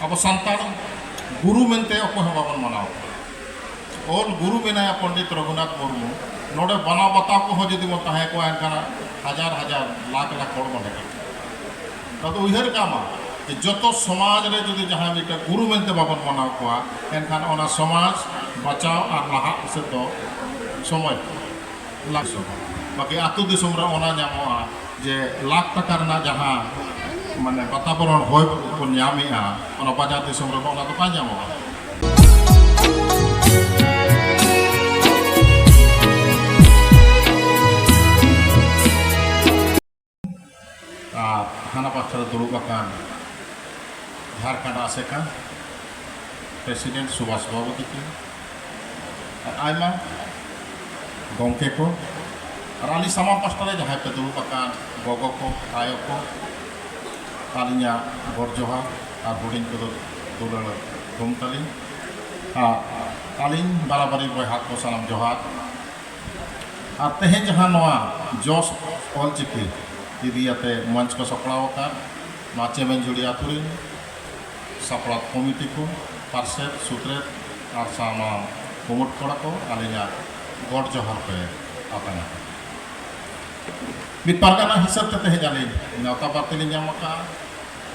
ᱟᱵᱚ ᱥᱟᱱᱛᱟᱲ ᱜᱩᱨᱩ ᱢᱮᱱᱛᱮ ᱚᱠᱚᱭ ᱦᱚᱸ ᱵᱟᱵᱚᱱ ᱢᱟᱱᱟᱣ ᱠᱚᱣᱟ ᱚᱞ ᱜᱩᱨᱩ ᱢᱮᱱᱟᱭᱟ ᱯᱚᱱᱰᱤᱛ ᱨᱚᱜᱷᱩᱱᱟᱛᱷ ᱢᱩᱨᱢᱩ ᱱᱚᱰᱮ ᱵᱟᱱᱟ ᱵᱟᱛᱟ ᱠᱚᱦᱚᱸ ᱡᱩᱫᱤ ᱵᱚᱱ ᱛᱟᱦᱮᱸ ᱠᱚᱜᱼᱟ ᱮᱱᱠᱷᱟᱱ ᱦᱟᱡᱟᱨ ᱦᱟᱡᱟᱨ ᱞᱟᱠᱷ ᱞᱟᱠᱷ ᱦᱚᱲ ᱵᱚᱱ ᱦᱮᱡ ᱟᱫᱚ ᱩᱭᱦᱟᱹᱨ ᱠᱟᱜ ᱢᱟ ᱡᱮ ᱡᱚᱛᱚ ᱥᱚᱢᱟᱡᱽ ᱨᱮ ᱡᱩᱫᱤ ᱡᱟᱦᱟᱸᱭ ᱢᱤᱫᱴᱟᱝ ᱜᱩᱨᱩ ᱢᱮᱱᱛᱮ ᱵᱟᱵᱚᱱ ᱢᱟᱱᱟᱣ ᱠᱚᱣᱟ ᱮᱱᱠᱷᱟᱱ ᱚᱱᱟ ᱥᱚᱢᱟᱡᱽ ᱵᱟᱪᱟᱣ ᱟᱨ ᱞᱟᱦᱟᱜ ᱥᱮᱫ ᱫᱚ ᱥᱚᱢᱚᱭ ᱞᱟᱠᱥᱚ ᱵᱟᱠᱤ ᱟᱛᱳ ᱫᱤᱥᱚᱢ ᱨᱮ ᱚᱱᱟ ᱧᱟᱢᱚᱜᱼᱟ ᱡᱮ ᱞᱟᱠᱷ ᱴᱟᱠᱟ ᱨᱮᱱᱟᱜ ᱡᱟᱦᱟᱸ ᱢᱟᱱᱮ ᱵᱟᱛᱟᱵᱚᱨᱚᱱ ᱦᱚᱭ ᱵᱚᱱ ᱧᱟᱢᱮᱜᱼᱟ ᱚᱱᱟ ᱵᱟᱡᱟᱨ ᱫᱤᱥᱚᱢ ᱨᱮᱫᱚ ᱚᱱᱟ ᱫᱚ ᱵᱟᱭ ᱧᱟᱢᱚᱜᱼᱟ ᱟᱨ ᱦᱟᱱᱟ ᱯᱟᱥᱴᱟ ᱨᱮ ᱫᱩᱲᱩᱵ ᱟᱠᱟᱱ ᱡᱷᱟᱲᱠᱷᱚᱸᱰ ᱟᱥᱮᱠᱟ ᱯᱨᱮᱥᱤᱰᱮᱱᱴ ᱥᱩᱵᱷᱟᱥ ᱵᱟᱵᱩ ᱛᱤᱠᱤᱱ ᱟᱨ ᱟᱭᱢᱟ ᱜᱚᱢᱠᱮ ᱠᱚ ᱟᱨ ᱟᱹᱞᱤᱧ ᱥᱟᱢᱟᱝ ᱯᱟᱥᱴᱟ ᱨᱮ ᱡᱟᱦᱟᱸᱭ ᱯᱮ ᱫᱩᱲᱩᱵ ᱟᱠᱟᱱ ᱜᱚᱜᱚ ᱠᱚ ᱟᱭᱳ ᱠᱚ ᱟᱹᱞᱤᱧᱟᱜ ᱜᱚᱰ ᱡᱚᱦᱟᱨ ᱟᱨ ᱦᱩᱰᱤᱧ ᱠᱚᱫᱚ ᱫᱩᱞᱟᱹᱲ ᱛᱷᱩᱢ ᱛᱟᱹᱞᱤᱧ ᱟᱨ ᱟᱹᱞᱤᱧ ᱵᱟᱨᱟᱵᱟᱹᱨᱤ ᱵᱚᱭᱦᱟ ᱠᱚ ᱥᱟᱱᱟᱢ ᱡᱚᱦᱟᱨ ᱟᱨ ᱛᱮᱦᱮᱧ ᱡᱟᱦᱟᱸ ᱱᱚᱣᱟ ᱡᱚᱥ ᱚᱞᱪᱤᱠᱤ ᱤᱫᱤ ᱟᱛᱮ ᱢᱚᱧᱪ ᱠᱚ ᱥᱟᱯᱲᱟᱣ ᱟᱠᱟᱫ ᱱᱚᱣᱟ ᱪᱮᱢᱮᱧᱡᱷᱩᱲᱤ ᱟᱹᱛᱩ ᱨᱤᱱ ᱥᱟᱯᱲᱟᱣ ᱠᱚᱢᱤᱴᱤ ᱠᱚ, ᱯᱟᱨᱥᱮᱛ, ᱥᱩᱛᱨᱮᱛ ᱟᱨ ᱥᱟᱶᱱᱟᱣ ᱠᱩᱢᱩᱴ ᱠᱚᱲᱟ ᱠᱚ ᱟᱹᱞᱤᱧᱟᱜ ᱜᱚᱰ ᱡᱚᱦᱟᱨ ᱯᱮ ᱟᱛᱟᱝ ᱟᱠᱟᱫᱟ᱾ ᱢᱤᱫ ᱯᱟᱨᱜᱟᱱᱟ ᱦᱤᱥᱟᱹᱵ ᱛᱮ ᱛᱮᱦᱮᱧ ᱟᱹᱞᱤᱧ ᱱᱮᱣᱛᱟ ᱵᱟᱨᱛᱮ ᱞᱤᱧ ᱧᱟᱢ ᱟᱠᱟᱫᱼᱟ᱾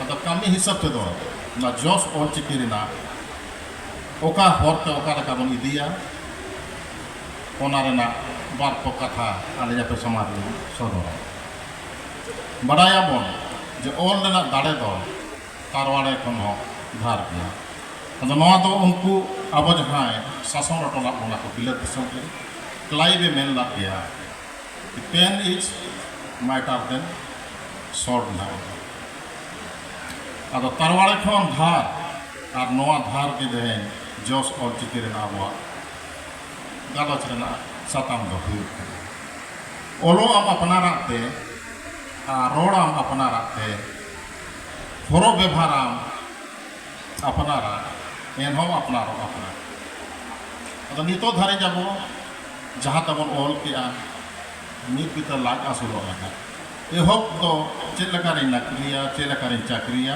ᱟᱫᱚ ᱠᱟᱹᱢᱤ ᱦᱤᱥᱟᱹᱵ ᱛᱮᱫᱚ ᱱᱚᱣᱟ ᱡᱚᱥ ᱚᱞᱪᱤᱠᱤ ᱨᱮᱱᱟᱜ ᱚᱠᱟ ᱦᱚᱨ ᱛᱮ ᱚᱠᱟ ᱞᱮᱠᱟ ᱵᱚᱱ ᱤᱫᱤᱭᱟ, ᱚᱱᱟ ᱨᱮᱱᱟᱜ ᱵᱟᱨ ᱠᱚ ᱠᱟᱛᱷᱟ ᱟᱹᱞᱤᱧ ᱟᱯᱮ ᱥᱟᱢᱟᱝ ᱨᱮᱞᱤᱧ ᱥᱚᱫᱚᱨᱟ᱾ ᱵᱟᱰᱟᱭ ᱟᱵᱚᱱ ᱡᱮ ᱚᱞ ᱨᱮᱱᱟᱜ ᱫᱟᱲᱮ ᱫᱚ ᱛᱟᱨᱣᱟᱲᱮ ᱠᱷᱚᱱ ᱦᱚᱸ ᱫᱷᱟᱨ ᱜᱮᱭᱟ᱾ ᱟᱫᱚ ᱱᱚᱶᱟ ᱫᱚ ᱩᱱᱠᱩ ᱟᱵᱚ ᱡᱟᱦᱟᱸᱭ ᱥᱟᱥᱚᱱ ᱚᱴᱚ ᱞᱟᱫ ᱵᱚᱱᱟ ᱠᱚ ᱵᱤᱞᱟᱹᱛ ᱫᱤᱥᱚᱢ ᱨᱮ ᱠᱞᱟᱭᱤᱵᱽ ᱮ ᱢᱮᱱ ᱞᱟᱫ ᱜᱮᱭᱟ ᱠᱤ ᱯᱮᱱ ᱤᱡᱽ ᱢᱟᱭᱴᱟᱨ ᱫᱮᱱ ᱥᱚᱨᱰ ᱱᱟᱣ ᱟᱫᱚ ᱛᱟᱨᱣᱟᱲᱮ ᱠᱷᱚᱱ ᱫᱷᱟᱨ ᱟᱨ ᱱᱚᱶᱟ ᱫᱷᱟᱨ ᱜᱮ ᱛᱮᱦᱮᱧ ᱡᱚᱥ ᱚᱞᱪᱤᱠᱤ ᱨᱮᱱᱟᱜ ᱟᱵᱚᱣᱟᱜ ᱜᱟᱞᱚᱪ ᱨᱮᱱᱟᱜ ᱥᱟᱛᱟᱢ ᱫᱚ ᱦᱩᱭᱩᱜ ᱠᱟᱱᱟ ᱚᱞᱚᱜ ᱟᱢ ᱟᱯᱱᱟᱨᱟᱜ ᱛᱮ ᱟᱨ ᱨᱚᱲ ᱟᱢ ᱟᱯᱱᱟᱨᱟᱜ ᱛᱮ ᱦᱚᱨᱚᱜ ᱵᱮᱵᱷᱟᱨ ᱟᱢ ᱟᱯᱱᱟᱨᱟᱜ ᱮᱱᱦᱚᱸ ᱟᱯᱱᱟᱨᱚᱜ ᱟᱯᱱᱟᱨ ᱟᱫᱚ ᱱᱤᱛᱚᱜ ᱫᱷᱟᱹᱨᱤᱡ ᱟᱵᱚ ᱡᱟᱦᱟᱸ ᱛᱮᱵᱚᱱ ᱚᱞ ᱠᱮᱜᱼᱟ ᱢᱤᱫ ᱵᱤᱛᱟᱹ ᱞᱟᱡ ᱟᱹᱥᱩᱞᱚᱜ ᱞᱟᱹᱜᱤᱫ ᱮᱦᱚᱵ ᱫᱚ ᱪᱮᱫ ᱞᱮᱠᱟᱨᱤᱧ ᱱᱚᱠᱨᱤᱭᱟ ᱪᱮᱫ ᱞᱮᱠᱟᱨᱤᱧ ᱪᱟᱹᱠᱨᱤᱭᱟ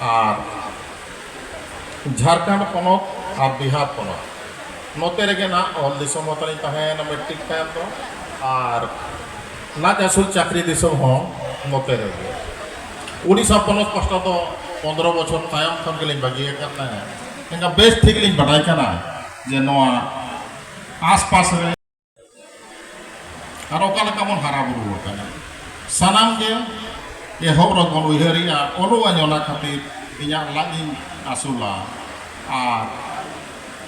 ᱟᱨ ᱡᱷᱟᱨᱠᱷᱚᱸᱰ ᱯᱚᱱᱚᱛ ᱟᱨ ᱵᱤᱦᱟᱨ ᱯᱚᱱᱚᱛ ᱱᱚᱛᱮ ᱨᱮᱜᱮ ᱱᱟᱜ ᱚᱞ ᱫᱤᱥᱚᱢ ᱦᱚᱸ ᱛᱟᱹᱞᱤᱧ ᱛᱟᱦᱮᱸᱭᱮᱱᱟ ᱢᱮᱴᱨᱤᱠ ᱛᱟᱭᱚᱢ ᱫᱚ ᱟᱨ ᱞᱟᱡ ᱟᱹᱥᱩᱞ ᱪᱟᱹᱠᱨᱤ ᱫᱤᱥᱚᱢ ᱦᱚᱸ ᱱᱚᱛᱮ ᱨᱮᱜᱮ ᱩᱰᱤᱥᱟ ᱯᱚᱱᱚᱛ ᱯᱟᱥᱴᱟ ᱫᱚ ᱯᱚᱱᱫᱨᱚ ᱵᱚᱪᱷᱚᱨ ᱛᱟᱭᱚᱢ ᱠᱷᱚᱱ ᱜᱮᱞᱤᱧ ᱵᱟᱹᱜᱤ ᱟᱠᱟᱫ ᱛᱟᱦᱮᱸᱫ ᱮᱱᱠᱷᱟᱱ ᱵᱮᱥ ᱴᱷᱤᱠ ᱞᱤᱧ ᱵᱟᱰᱟᱭ ᱠᱟᱱᱟ ᱡᱮ ᱱᱚᱣᱟ ᱟᱥᱯᱟᱥ ᱨᱮ ᱟᱨ ᱚᱠᱟ ᱞᱮᱠᱟ ᱵᱚᱱ ᱦᱟᱨᱟ ᱵᱩᱨᱩ ᱟᱠᱟᱱᱟ ᱥᱟᱱᱟᱢ ᱜᱮ ᱮᱦᱚᱵ ᱨᱮ ᱵᱚᱱ ᱩᱭᱦᱟᱹᱨᱮᱜᱼᱟ ᱚᱞᱚᱜ ᱟᱹᱧ ᱚᱱᱟ ᱠᱷᱟᱹᱛᱤᱨ ᱤᱧᱟᱹᱜ ᱞᱟᱡ ᱤᱧ ᱟᱹᱥᱩᱞᱟ ᱟᱨ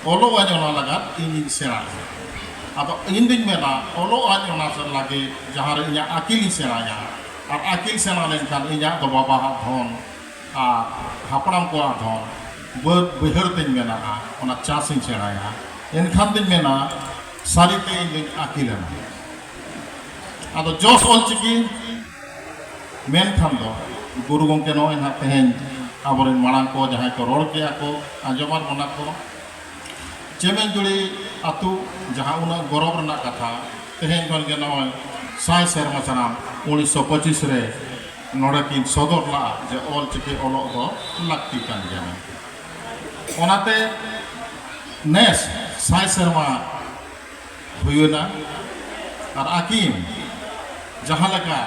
ᱚᱞᱚᱜ ᱟᱹᱧ ᱚᱱᱟ ᱞᱟᱜᱟᱫ ᱤᱧᱤᱧ ᱥᱮᱬᱟᱭᱟ ᱟᱫᱚ ᱤᱧ ᱫᱩᱧ ᱢᱮᱱᱟ ᱚᱞᱚᱜ ᱟᱹᱧ ᱚᱱᱟ ᱞᱟᱹᱜᱤᱫ ᱡᱟᱦᱟᱸ ᱨᱮ ᱤᱧᱟᱹᱜ ᱟᱹᱠᱤᱞᱤᱧ ᱥᱮᱬᱟᱭᱟ ᱟᱨ ᱟᱹᱠᱤᱞ ᱥᱮᱬᱟ ᱞᱮᱱᱠᱷᱟᱱ ᱤᱧᱟᱹᱜ ᱫᱚ ᱵᱟᱵᱟᱣᱟᱜ ᱫᱷᱚᱱ ᱟᱨ ᱦᱟᱯᱲᱟᱢ ᱠᱚᱣᱟᱜ ᱫᱚ ᱵᱟᱹᱫᱽ ᱵᱟᱹᱭᱦᱟᱹᱲ ᱛᱤᱧ ᱢᱮᱱᱟᱜᱼᱟ ᱚᱱᱟ ᱪᱟᱥ ᱤᱧ ᱥᱮᱬᱟᱭᱟ ᱮᱱᱠᱷᱟᱱ ᱫᱚᱧ ᱢᱮᱱᱟ ᱥᱟᱹᱨᱤ ᱛᱮ ᱤᱧ ᱫᱚᱧ ᱟᱹᱠᱤᱞ ᱮᱱᱟ ᱟᱫᱚ ᱡᱚᱥ ᱚᱞ ᱪᱤᱠᱤ ᱢᱮᱱᱠᱷᱟᱱ ᱫᱚ ᱜᱩᱨᱩ ᱜᱚᱢᱠᱮ ᱱᱚᱜᱼᱚᱭ ᱱᱟᱦᱟᱜ ᱛᱮᱦᱮᱧ ᱟᱵᱚᱨᱮᱱ ᱢᱟᱲᱟᱝ ᱠᱚ ᱡᱟᱦᱟᱸᱭ ᱠᱚ ᱨᱚᱲ ᱠᱮᱜᱼᱟ ᱠᱚ ᱟᱸᱡᱚᱢᱟᱫ ᱵᱚᱱᱟ ᱠᱚ ᱪᱮᱢᱮᱧᱡᱩᱲᱤ ᱟᱹᱛᱩ ᱡᱟᱦᱟᱸ ᱩᱱᱟᱹᱜ ᱜᱚᱨᱚᱵᱽ ᱨᱮᱱᱟᱜ ᱠᱟᱛᱷᱟ ᱛᱮᱦᱮᱧ ᱠᱷᱚᱱ ᱜᱮ ᱱᱚᱜᱼᱚᱭ ᱥᱟᱭ ᱥᱮᱨᱢᱟ ᱥᱟᱱᱟᱢ ᱩᱱᱤᱥᱥᱚ ᱯᱚᱸᱪᱤᱥ ᱨᱮ ᱱᱚᱰᱮ ᱠᱤᱱ ᱥᱚᱫᱚᱨ ᱞᱟᱜᱼᱟ ᱡᱮ ᱚᱞ ᱪᱤᱠᱤ ᱚᱞᱚᱜ ᱫᱚ ᱞᱟᱹᱠᱛᱤ ᱠᱟᱱ ᱜᱮᱭᱟ ᱢᱮᱱᱛᱮ᱾ ᱚᱱᱟᱛᱮ ᱱᱮᱥ ᱥᱟᱭ ᱥᱮᱨᱢᱟ ᱦᱩᱭᱮᱱᱟ ᱟᱨ ᱟᱹᱠᱤᱱ ᱡᱟᱦᱟᱸ ᱞᱮᱠᱟ